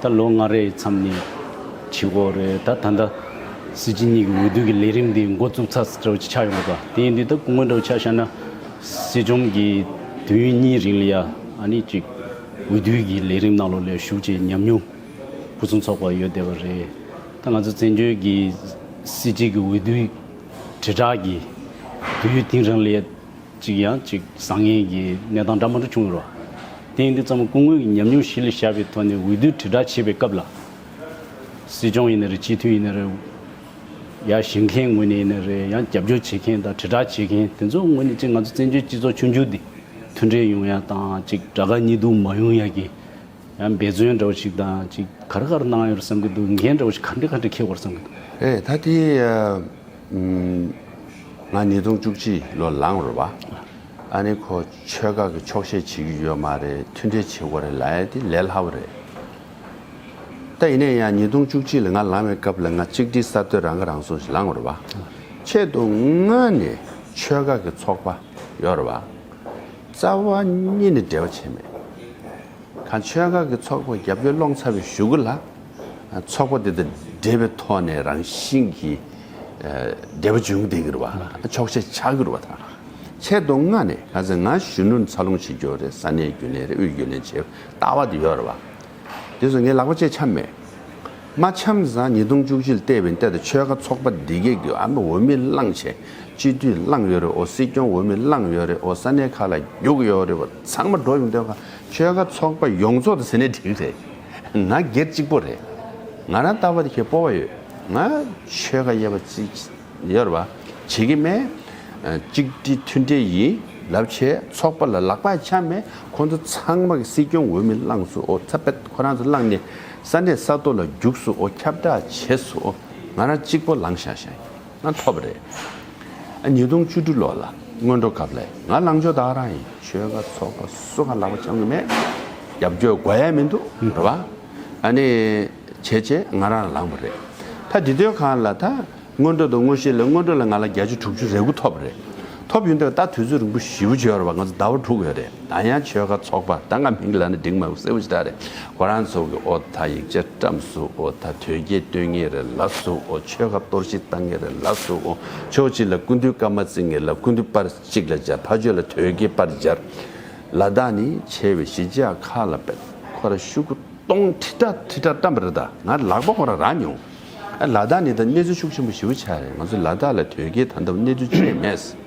ད་ལོ་ལྔ་རེའི་མཚམས་ནས་ཇི་སྐོར་རེད་ད་ད་ལྟ་སྲིད་སྤྱི་གཉིས་ཀྱི་འོས་བསྡུ་གི་ལས་རིམ་འདི་མགོ་བཙུགས་ཚར་ཆགས་ཡོད་པ་དེ་ཡིན་དུས་ད་སྐུ་ངོ་འདྲ་བོ་ཆགས་ཤག་ན་སྲིད་སྐྱོང་གི་དུས་ཡུན་གཉིས་རིང་ལ་ཡ་ཨ་ནི་ཅིག་འོས་བསྡུའི་གི་ལས་རིམ་ནང་ལོགས་ལས་ཞུགས་བྱེད་ཉམས་མྱོང་ཕུན་སུམ་ཚོགས་པ་ཡོད་བསྡད་པ་རེད་ད་ང་ཚོ་བཙན་བྱོལ་གྱི་སྲིད་སྤྱི་གི་འོས་བསྡུའི་དྲིལ་བསྒྲགས་ཀྱི་དུས་ཡུན་ཐིང་རིང་ལ་ཡ། གཅིག་ཡང་གཅིག་བཟང་ངན་གྱི་གནས་སྟངས་འདྲ་མ་འདྲ་བྱུང་ཡོད། ཐེངས་འདི་ཙམ་སྐུ་ངོས་ཀྱི་ཉམས་མྱོང་གཞི་ལ་བཞག་པའི་ཐོག་ནས་འོས་བསྡུ་དྲིལ་བསྒྲགས་བྱེད་པའི་སྐབས་ལ། སྲིད་སྐྱོང་ཡིན་ན་རེད་སྤྱི་འཐུས་ཡིན་ན་རེད། ཡར་བཞེངས་མཁན་ངོས་ནས་ཡིན་ན་རེད་ཡང་རྒྱབ་སྐྱོར་བྱེད་མཁན་དང་དྲིལ་བསྒྲགས་བྱེད་མཁན་དེ་ཚོ་ངོས་ནས་གཅིག་ང་ཚོ་བཙན་བྱོལ་སྤྱི་ཚོགས་ཆུང་ཆུང་འདི་མཐུན་འབྲེལ་ཡོང་ཡ་དང་གཅིག་དགྲ་དགའ་གཉིས་སྡུག་མ་ཡོང་ཡ་གྱི་ཡང་འབད་བརྩོན་འདྲ་བོ་ཞིག་དང་ཅིག་ག་རེ་ག་རེ་གནང་ཡོད་བསམ་གྱི་འདུག་འགན་འདྲ་བོ་ཞིག་ག་འདྲེ་ག་འདྲེ་འཁེལ་བར་བསམ་གྱི་འདུག། ཨེ་ད་དེ། ང་ཉིས་སྟོང་བཅུ་གཅིག་ལོ་ལངས་རོལ་བ། ཨ་ནེ་ཁོ་ཆོལ་ཁ་གི་ཆོག་ཤེས་བྱེད་ཀྱི་ཡོད་མ་རེད་མཐུན་འབྲེལ་བྱེད་དགོས་རེད་ལ་ཨེ་དེ་ལས་སླ་བོ་རེད། ད་ཡིན་ནའི་ཡང་ཉིས་སྟོང་བཅུ་གཅིག་ལ་ང་ལངས་བའི་སྐབས་ལ་ང་གཅིག་སྒྲིལ་གསར་གཏོད་རང་ཁ་རང་གསོ་ཞིག་ལངས་རོལ་བ། ཆེད་དུ་དངོས་ནས་ཆོལ་ཁ་གི་ཚོགས་པ་ཡོད་རེད་བ། རྩ་བ་གཉིས་ནི་འབྲེལ་བ་བྱས་མེད། གང་ཆོལ་ཁ་གི་ཚོགས་པ་རྒྱབ་སྐྱོར་སློང་ཚར་བའི་ཞུ་གུ་ལ། ཚོགས་པ་དེ་དང་འབྲེལ་བའི་ཐོག་ནས་རང་བཞིན་གྱིས་འབྲེལ་བ་འབྱུང་བསྡད་གྱུར་བ། འཁྱོག་བཤད་བྱ་གྱུར་བ་དང། ཆེད་དུ་མངགས་ནས་ག་ཚོད་ང་གཞོན་ནུ་འཚར་ལོངས་བྱེད་རྒྱུ་རེད་ས་གནས་རྒྱུན་ལས་རེད་དབུས་རྒྱུན་ལས་བྱེད་ལྟ་བ་དེ་ཡོད་རེད་བ། དེ་སོགས་ངས་ལག་པ་བཅད་འཆམ་མེད། མ་འཆམ་བཟང་ཉིས་སྟོང་བཅུ་བཞིལ་ལྟེ་བའི་འདས་དང་ཆོལ་ཁ་ཚོགས་པ་འདི་གེགས་དུས་ཨ་མི་འོ་མི་བླངས་བྱས་སྤྱི་འཐུས་བླངས་ཡོད་རེད་འོ་སྲིད་སྐྱོང་འོ་མི་བླངས་ཡོད་རེད་འོ་ས་གནས་ཁག་ལ་རྒྱུག་གི་ཡོད་རེད་བ་ཚང་མ་འགྲོ་ཡོང་དོན་ཁ་ཆོལ་ཁ་ཚོགས་པ་ཡོངས་རྫོགས་དང་ཟེར་ནས་འགྲིག་རེད་ང་སྒེར་གཅིག་པོ་རེད་ང་རང་ལྟ་བ་དེ་ཁྱོད་སྤོ་བ་ཡོད་ང་ཆོལ་ཁ་དབྱེ་བ་བརྩི་གཡོར་བ་བྱེད་ཀྱི་མེད། གཅིག་སྒྲིལ་མཐུན་སྒྲིལ་ཡིན་ལབ་བྱས་ཚོགས་པ་ལ་ལག་པ་འཆའ་མེད་ཁོང་ཚོ་ཚང་མ་སྲིད་སྐྱོང་འོས་མི་བླངས་སུ་འོ་ཚ་པད་ཁོ་རང་ཚོ་བླངས་ནས་ས་གནས་ས་ཐོ་ལ་རྒྱུགས་སུ་འོ་ཁྱབ་བསྒྲགས་བྱས་སུ་འོ་ང་རང་གཅིག་པོ་ལངས་ཤག་ཤག་ང་ཐོབ་རེད་ཨ་ཉིས་སྟོང་བཅུ་དྲུག་ལོ་ལ་སྔོན་འགྲོ་སྐབས་ལས་ང་ལངས་ཆོག་བདག་རང་ཡིན་ཆོལ་ཁ་ཚོགས་པ་སུ་གང་ལག་པ་འཆང་གི་མེད་རྒྱབ་སྐྱོར་དགོས་ཡ་མི་འདུག་གཡོར་བ་ཨ་ནི། བྱས་བྱས་ང་རང་ལ་ལངས་པ་རེད། ད་འདི་དོན་གང་ལ་ད། སྔོན་འགྲོ་དང་དངོས་གཞི་ལས་སྔོན་འགྲོ་ལ་ང་ལ་བརྒྱ་ཆ་དྲུག་ཅུ་རེ་དགུ་ཐོབ་པ་རེད། ཐོབ་ཡོད་འདུག་ད་དུས་ཚོད་རིང་པོ་བཞི་བོ་བརྗོད་བར་ང་ཚོ་ཟླ་བ་དྲུག་ཡོད་རེད་ད་ཡང་ཆོལ་ཁ་ཚོགས་པ་ད་ང་མིང་ལ་ནི་འགྲིག་མ་མྱོང་གསལ་བོ་ཞིག་ད་རེད་གོ་རང་ཚོ་གི་ཨོ་ད་ཡིག་ཆ་བཀྲམས་སུ་ཨོ་ད་དོལ་རྒྱལ་བསྟོད་ངེས་རེད་ལབ་སུ་ཨོ་ཆོལ་ཁ་གཏོར་བཤིག་བཏང་ངེས་རེད་ལབ་སུ་ཨོ་ཕྱོགས་གཅིག་ལ་སྐུ་མདུན་བཀའ་མ་བརྩི་ངེས་ལབ་སྐུ་མདུན་པར་གཅིག་ལ་སྦྱར་ཕ་ཆོས་ལ་དོལ་རྒྱལ་པར་སྦྱར་ལ་ད་ནི་བྱས་བའི་གཞི་འཇགས་ཁ་ལ་པད་ཁོ་ར་ཤུ་གུ། སྟོང་ཁྲི་ཁྲ་ཁྲི་ཁྲ་བཀྲམ་པ་རེད་ད་ང་ལག་པ་ཁོ་རང་རག་མྱོང། ལ་དྭགས་ནི་ད་གནས་ཚུལ་ཤུགས་ཆེན་པོ་ཞིའུ་ཆགས་རེད་ང་ཚོ་ལ་དྭགས་ལ་དོལ་རྒྱལ་ད་ལྟ་བུ་གནས་ཚུལ་ཆོས་མེད་ཟེར།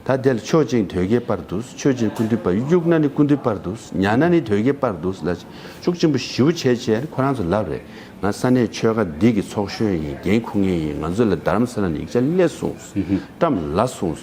ད་དེ་ལ་ཆོས་ཅན་དོལ་རྒྱལ་པར་འདུག་ཆོས་ཅན་ཀུན་འདུས་པར་དབྱུག་ན་ནི་ཀུན་འདུས་པར་འདུག་ཉལ་ན་ནི་དོལ་རྒྱལ་པར་འདུག་ལ་ཤུགས་ཆེན་པོ་ཞིའུ་བྱས་བྱས་ནི་ཁོ་རང་ཚོ་ལབ་རེད་ང་ས་གནས་ཆོལ་ཁ་འདི་གི་ཚོགས་གཞོན་ཡིན་རྒན་ཁུ་ངེས་ཡིན་ང་ཚོ་ལ་རྡ་རམ་ས་ལ་ནས་ཡིག་ཆ་སླེ་གསུངས་བཀྲམ་ལ་གསུངས།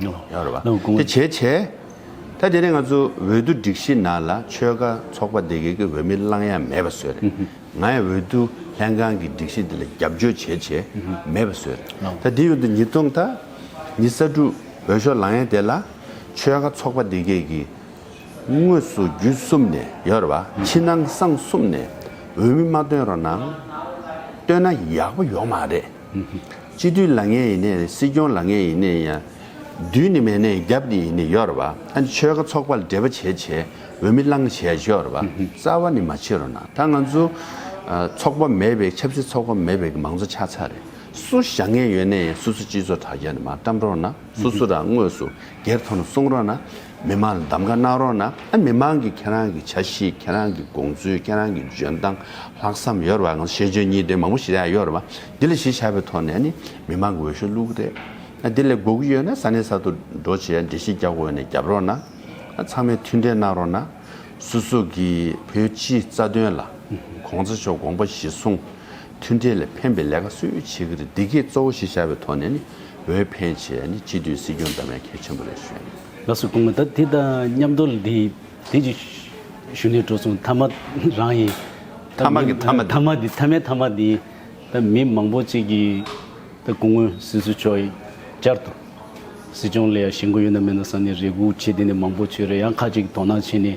ཡོང་རེད་བ། དེ་བྱས་བྱས། ད་དེ་ནས་ང་ཚོ་འོས་བསྡུ་སྒྲིག་གཞི་ནང་ལ་ཆོལ་ཁ་ཚོགས་པ་དེ་གའི་གི་འོས་མི་བླང་ཡ་མེད་པ་བཟོས་རེད། ང་ཡང་འོས་བསྡུ་ལྷན་ཁང་གི་སྒྲིག་གཞི་འདི་ལ་རྒྱབ་སྐྱོར་བྱས་བྱས་མེད་པ་བཟོས་རེད། ད་དེ་ཡོད་དུ་ཉིས་སྟོང་དང་ཉི་ས་དྲུག་འོས་ཤོག་ལང་ཡ་དེ་ལ་ཆོལ་ཁ་ཚོགས་པ་དེ་གའི་གི་དངོས་སུ་བརྒྱུད་གསུམ་ནས་ཡོང་རེད་བ། ཕྱི་ནང་གསང་གསུམ་ནས་འོས་མི་མ་བཏོན་རོགས་གནང། བཏོན་ན་ཡག་པོ་ཡོང་མ་རེད། སྤྱི་འཐུས་ལ་ངན་ཡིན་ནས་སྲིད་སྐྱོང་ལ་ངན་ཡིན་ནས་ཡང། བདུད་ནི་མེད་ནས་རྒྱབ་ནི་ཡིན་ནས་ཡོར་བ། ཨ་ནི་ཆོལ་ཁ་ཚོགས་པ་ལ་འབྲེལ་བ་བྱེད་བྱེད་འོས་མི་བླངས་བྱས་བྱོར་བ། རྩ་བ་ནི་མ་བྱེད་རོགས་གནང་ད་ང་ཚོ། ཚོགས་པ་མེད་པའི་ཆབ་སྲིད་ཚོགས་པ་མེད་པའི་མང་གཙོ་ཆགས་ཚར་རེད་སུ་ཞག་ངན་ཡོད་ནས་ཡང་སུ་སུ་སྤྱི་ཚོགས་དྲ་རྒྱ་ནས་མ་བཀྲམ་རོགས་གནང་སུ་སུ་རང་དངོས་སུ་སྒེར་ཐོག་ནས་གསུང་རོགས་གནང། མི་མང་ལ་འདམ་ག་གནང་རོགས་གནང་ཨ་མི་མང་གིས་ཁྱེད་རང་གི་བྱ་གཞིས་ཁྱེད་རང་གི་དགོངས་ཚུལ་ཁྱེད་རང་གི་འཇོན་ཐང་ལྷག་བསམ་ཡོད་རེད་བ་ང་ཤེས་འཇོན་གཉིས་ལྡན་མང་པོ་ཞིག་ཡོད་རེད་བ་འདི་ལ་གཞི་བྱ་བའི་ཐོག་ནས་ནི་མི་མང་གི་འོས་ཤོག་བླུག་གི་རེད་འདི་ལས་འགོ་གི་ཡོད་ན་ས་གནས་ས་ཐོ་འགྲོ་བྱས་འགྲེལ་བཤད་རྒྱག་དགོས་ཡོད་ན་རྒྱབ་རོགས་གནང་ཨ་ཚང་མས་མཐུན་འབྲེལ་གནང་རོགས་གནང་སུ་སུ་གིས་བོད་སྤྱིའི་རྩ་དོན་ལ་གོང་ཚ་མཆོག་དགོངས་པ་གཞི་བཟུང་མཐུན་སྒྲིལ་ལ་ཕན་པའི་ལས་ཀ་སུས་བྱེད་ཀྱི་རེད་འདི་གས་གཙོ་བོ་ཞེས་བྱ་བའི་ཐོག་ནས་ནི་འོས་འཕེན་ཆེད་ནི་སྤྱི་འཐུས་སྲིད་སྐྱོང་འདྲ་མའི་གལ་ཆེན་པོ་རེད་ཞུས་ཡོད། ལགས་སོ་གོང་མ་ད་དེ་དང་མཉམ་དོ་ལ་དེ་དེ་ཅིག་ཞུ་ནས་འགྲོ་སོང་མཐའ་མ་རང་ཡིན། མཐའ་མ་གི་མཐའ་མ་དེ། མཐའ་མའི་མཐའ་མ་དེ་ད་མི་མང་པོ་ཅིག་གི་ད་སྐུ་ངོ་སྲིད་ཟུར་མཆོག་ཡིན་བསྐྱར་དུ་སྲིད་སྐྱོང་ལ་ཡང་བྱེད་མགོ་ཡོད་ན་མེད་ན་ས་ནས་རེ་སྒུག་བྱེད་དེ་ནས་མང་པོ་བྱོས་རེ་ཡང་ཁ་ཅིག་དོ་སྣང་བྱེད་ནས།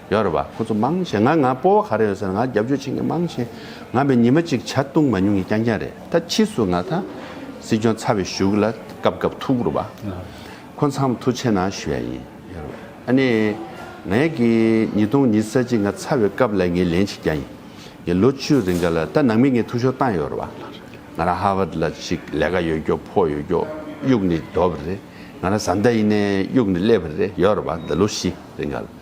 ཡོད་རེད་བ། ཁོ་ཚོ་མང་ཞེ་ང་ང་སྤོ་བ་ག་རེ་ཡོད་ཟེར་ང་རྒྱབ་སྐྱོར་བྱེད་མཁན་མང་ཞེ་ང་བའི་ཉི་མ་གཅིག་བྱ་བཏུང་མ་མྱོང་གི་རྐྱང་རྐྱང་རེད་ད་ཕྱིས་སུ་ང་ད་སྲིད་སྐྱོང་ཚར་བའི་ཞུགས་ལ་སྐབས་སྐབས་ཐུག་རུ་བ། ཁོ་མཚམས་ཐུག་ཆེ་ན་ཞུ་ཡ་ཡིན་ཡོད་རེད་བ། ཨ་ནེ། ངས་ཀྱི་ཉིས་སྟོང་ཉིས་གསལ་གཅིག་ང་ཚར་བའི་སྐབས་ལ་ངས་ལན་བྱེད་རྐྱང་ཡིན་ཡིན་ལོ་བཅུ་རེ་འགའ་ལ་ད་ནང་མི་ངས་ཐུག་ཤོར་བཏང་ཡོད་རེད་བ། ང་རང་ཧ་བར་ལ་ཞིག་ལས་ཀ་ཡོད་རྒྱོ་ཕོ་ཡོད་རྒྱོ་དབྱུག་ནི་རྡོ་བ་རེད་ང་རང་བཟའ་ཟླ་ཡིན་ནའི་དབྱུག་ནི་ཀླད་པ་རེད་ཡོད་རེད་བ་ད་ལོ་བཞི་རེ་འགའ་ལ།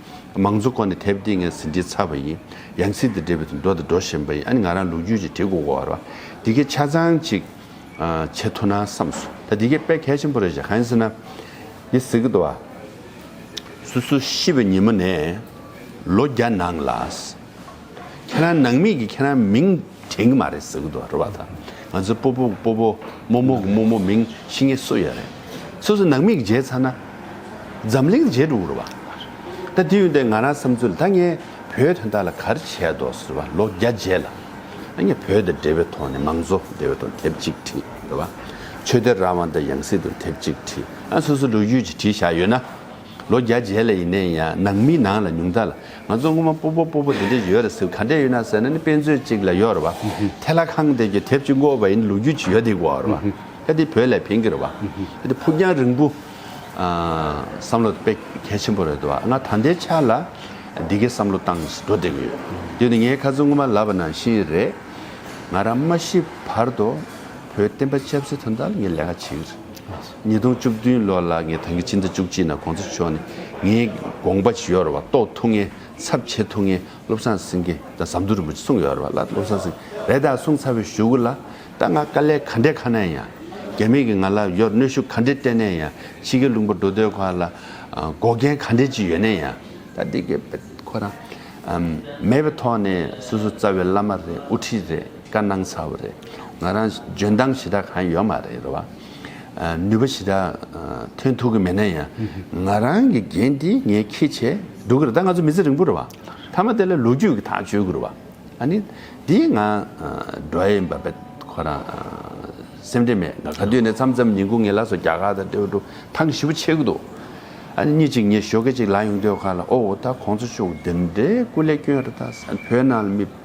མང་གཙོ་ཁོ་ནས་དེབ་འདི་ངས་ཟིན་བྲིས་ཚར་བ་ཡིན། ཡང་ཟིན་དེ་འབྲི་བའི་དུས་འགྲོ་དང་འགྲོ་བཞིན་པ་ཡིན་ཨ་ནི་ང་རང་ལུག་རྒྱུད་ཀྱི་གྲི་གུག་བོར་བ། འདི་གའི་ཆ་ཚང་ཅིག་བྱེད་ཐུབ་ན་བསམ་སོང་ད་འདི་གའི་དཔེ་གལ་ཆེན་པོ་རེད་བཤད་གང་ཡིན་ཟེར་ན། འདི་ཟེར་གི་འདུག་བ། སོ་སོ་ཤི་བའི་ཉིན་མོ་ནས་ལོ་བརྒྱ་ནང་ལ། ཁྱེད་རང་ནང་མི་གི་ཁྱེད་རང་མིང་དྲན་གི་མ་རེད་ཟེར་གི་འདུག་རེད་བ་དང་ང་ཚོའི་སྤོ་པོ་གི་སྤོ་པོ་རྨོ་མོ་གི་རྨོ་མོ་མིང་ཤི་ངེ་གསོ་ཡ་རེད་སོ་སོ་ནང་མི་གི་མཇལ་ཚར་ན་འཛམ་གླིང་མཇལ་འགྲོ་གི་རེད་བ་ད་དེ་ཡོན་ཏན་ང་རང་བསམ་ཚུལ་ད་ངས་བོད་དོན་ད་ལ་གར་བྱས་འདོག་ཟེར་བ་ལོ་བརྒྱ་རྗེས་ལ་ད་ངས་བོད་དེ་འབྲེལ་བའི་ཐོག་ནས་མང་གཙོ་འབྲེལ་བའི་ཐོག་དེབ་ཅིག་བྲིས་རེད་བ་ཆོས་དད་རང་དབང་དང་ཡང་སྲིད་དུ་དེབ་ཅིག་བྲིས་ཨ་སོ་སོ་ལོ་རྒྱུས་ཀྱི་བྲིས་བཞག་ཡོད་ན་ལོ་བརྒྱ་རྗེས་ལ་ཡིན་ནའི་ཡང་ནང་མི་ནང་ལ་ཉུང་ད་ལ། ང་ཚོ་སྔོན་མ་སྤོ་སྤོ་སྤོ་སྤོ་འདི་འདྲ་ཡོད་རེད་ཟེར་ག་འདྲ་ཡིན་ན་ཟེར་ན་ནི་དཔེ་མཛོད་ཅིག་ལ་ཡོད་རེད་བ། དེ་ལ་ཁང་དེ་གི་དེབ་ཅིག་བཀོད་པ་ཡིན་ལུགས་རྒྱུས་ཅིག་ཡོད་དེ་གོ་རེད་བ། གལ་ཏེ་བོད་ལས་འཕེན་གི་རེད་བ། གལ་ཏེ་ཕུགས་རྒྱང་རིང་པོ་བསམ་བློ་དཔེ་གལ་ཆེན་པོ་རེད་དོ་བ། ང་ད་ལྟའི་ཆ་ལ་འདི་གའི་བསམ་བློ་བཏང་ཞིག་འགྲོ་བསྡད་གི་ཡོད། དེ་ནི་ངའི་ཁ་ཚོན་སྔོན་མ་ལབ་པ་ནང་བཞིན་རེད། ང་རང་མ་ཤི་བར་དུ་བོད་བསྟན་པ་ཆབ་སྲིད་དོན་དག་ལ་ངས་ལས་ཀ་བྱེད་གི་རེད། ཉིས་སྟོང་བཅུ་བདུན་ལོ་ལ་ངས་ཐང་གི་སྤྱི་ཟླ་བཅུ་གཅིག་ནང་གོང་ས་མཆོག་ནས་ངའི་དགོངས་པ་ཞུས་ཡོད་རེད་བ་རྟོགས་ཐུག་ངེ་ཚབ་བྱེད་ཐུག་ངེ་བློ་བཟང་སེང་གེ་དང་ཟམ་གདོང་རིན་པོ་ཆེ་གསུངས་ཡོད་རེད་བ་ལ་བློ་བཟང་སེང་རེ་དང་གསུངས་ཚར་བའི་ཞུ་གུ་ལ་ད་ང་དཀའ་ལས་ག་འདྲས་ཁ་ན་ཡང་རྒྱ་མི་གི་ང་ལ་ཡོད་གནོད་ཤུགས་ག་འདྲས་སྤྲད་ནས་ཡང་ཕྱི་གི་ལུང་པ་འགྲོ་སྡོད་ཁ་ལ་འགོག་རྐྱེན་ག་འདྲས་ཅིག་ཡོད་ནས་ཡང་ད་འདི་གི་ཁོ་རང་མེད་པའི་ཐོག་ནས་སོ་སོ་རྩ་བའི་བླ་མ་རེད་དབུ་ཁྲིད་རེད། བཀའ་གནང་ཚར་བ་རེད། ང་རང་འཇོན་ཐང་ཞེ་དྲག་གང་ཡོད་མ་རེད་རེད་བ། ནུས་པ་ཞེ་དྲག་ཐོན་ཐུབ་གི་མེད་ན་ཡང་ང་རང་གི་འགན་འདི་ངས་ཁེ་བྱས་འདུག་གི་རེད་ད་ང་ཚོ་མི་ཚེ་རིང་པོ་རེད་བ། ཐ་མ་དེ་ལ་ལོ་རྒྱུས་ཀྱི་ཐག་གཅོད་གི་རེད་བ། ཨ་ནི་འདིའི་ང་འགྲོ་ཡི་འབབ་པའི་ཁོ་རང་སེམས་ཁྲལ་མེད་ག་དུས་ནས་མཚམས་མཚམས་ཉིན་གུང་ངའི་ལག་སོ་རྒྱ་གར་དང་ཏེའུ་ཏུ་ཐང་གི་ཞི་བ་ཆེ་གི་འདུག་ཨ་ནི་གཉིད་ཅིག་ངས་ཞོགས་ཀྱི་ཅིག་ལ་ཡོང་དུས་ཁ་ལ་ཨོའོ་ད་ཁོང་ཚོ་ཅུང་འདི་འདྲའི་སྐུ་ལས་སྐྱོན་རེད་ད་བོད་ནང་ལ་མི།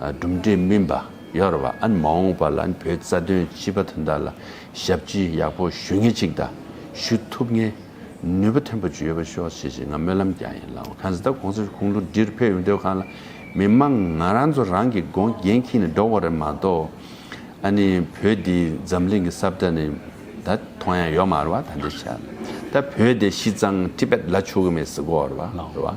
གྲུབ་འབྲས་སྨིན་པ་ཡོར་བ་ཨན་མ་འོངས་པ་ལ་བོད་རྩ་དོན་སྤྱི་པ་དོན་དག་ལ་ཞབས་ཕྱི་ཡག་པོ་ཞུ་ངེས་ཅིག་དང་ཞུ་ཐུབ་ངེས་ནུས་པ་ཐོན་པོ་ཅིག་ཡོད་པ་ཤོག་ཞེས་ཞེས་ང་སྨོན་ལམ་རྒྱག་ཡིན་ལགས་གང་ཟེ་ད་གོང་ས་ཁུང་ལུ་འདྲིར་ཕེབས་ཡོང་དུས་གང་ལ་མི་མང་ང་རང་ཚོ་རང་གི་སྒོ་རྒན་ཁྱི་ནས་འགྲོ་བ་རེད་མ་གཏོགས་ཨ་ནི་བོད་འདི་འཛམ་གླིང་གི་སྲབ་སྒྲ་ནི་ད་ཐོང་ཡང་ཡོར་མ་རེད་བ་ད་འདྲེ་ཆ་ལ་ད་བོད་འདི་ཤི་ཙང་ཏི་པད་ལ་ཆུ་གི་མེད་ཟེ་གོ་རེད་བ་ལགས་རེད་བ།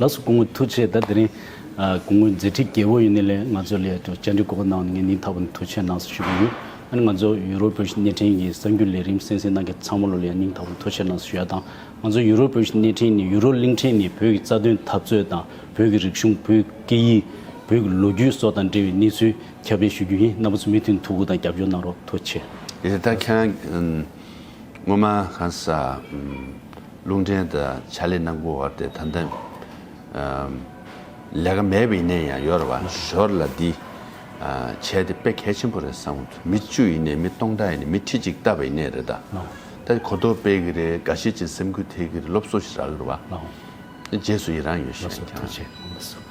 ལགས་སོ་གུང་ངོ་ཐུགས་ཆེ་ད་དེ་རིང་གུང་ངོ་མཛད་འཕྲིན་རྒྱལ་པོ་ཡིན་ནི་ལས་ང་ཚོ་ལས་བཅར་འདྲི་གོ་བ་གནང་ནི་ངས་ནིང་ཐར་བ་ནི་ཐུགས་ཆེ་ནང་སི་ཞུ་གི་ཡོད་ཨ་ནི་ང་ཚོ་ཡུ་རོབ་བོད་ཕྱི་གནས་འཕྲིན་གྱི་གསར་འགྱུར་ལས་རིམ་གསན་གསན་གནང་མཁན་ཚང་མ་ལོ་ལས་ནིང་ཐར་བ་ནི་ཐུགས་ཆེ་ནང་སི་ཞུ་ཡ་དང་ང་ཚོ་ཡུ་རོབ་བོད་ཕྱི་གནས་འཕྲིན་ནི་ཡུ་རོ་གླིང་འཕྲིན་ནི་བོད་ཀྱི་རྩ་དོན་འཐབ་རྩོད་དང་བོད་ཀྱི་རིག་གཞུང་བོད་ཀྱི་སྐད་ཡིག་བོད་ཀྱི་ལོ་རྒྱུས་སོགས་དང་འབྲེལ་བའི་གནས་ཚུལ་ཁྱབ་སྤེལ་ཞུ་རྒྱུ་ཡིན་རྣམ་པ་ཚོ་མུ་མཐུད་ཐུགས་ཁུར་དང་རྒྱབ་སྐྱོར་གནང་རོགས་ཐུགས་ཆེ། དེ་ལྟར་ཁྱེད་རང་སྔོན་མ་གང་ཟག། རླུང་འདྲེན་དང་བྱ་ལས་ནང་ཁུལ་བར་ཏེ་ད་ལྟ། ལས་ཀ་མེད་པའི་ཡིན་ནའི་ཡང་ཡོད་རེད་བ། ཞོར་ལ་འདི། བྱས་ཏེ་དཔེ་གལ་ཆེན་པོ་རེད་བསམ་མོད། མི་བཅུ་ཡིན་ནའི་མི་སྟོང་ཕྲག་ཡིན་ནའི་མི་ཁྲི་གཅིག་བལྟ་བའི་ཡིན་ནའི་རེད་ད། ད་གོ་རྟོགས་སྤེལ་གི་རེད་འགའ་ཤས་ཀྱིས་སེམས་ཁུར་ཐེག་གི་རེད་སློབ་གསོ་ཞིག་རག་གི་རེད་བ། རྗེས་སུ་ཡི་རང་ཡོད་ཞེས་ཀྱང།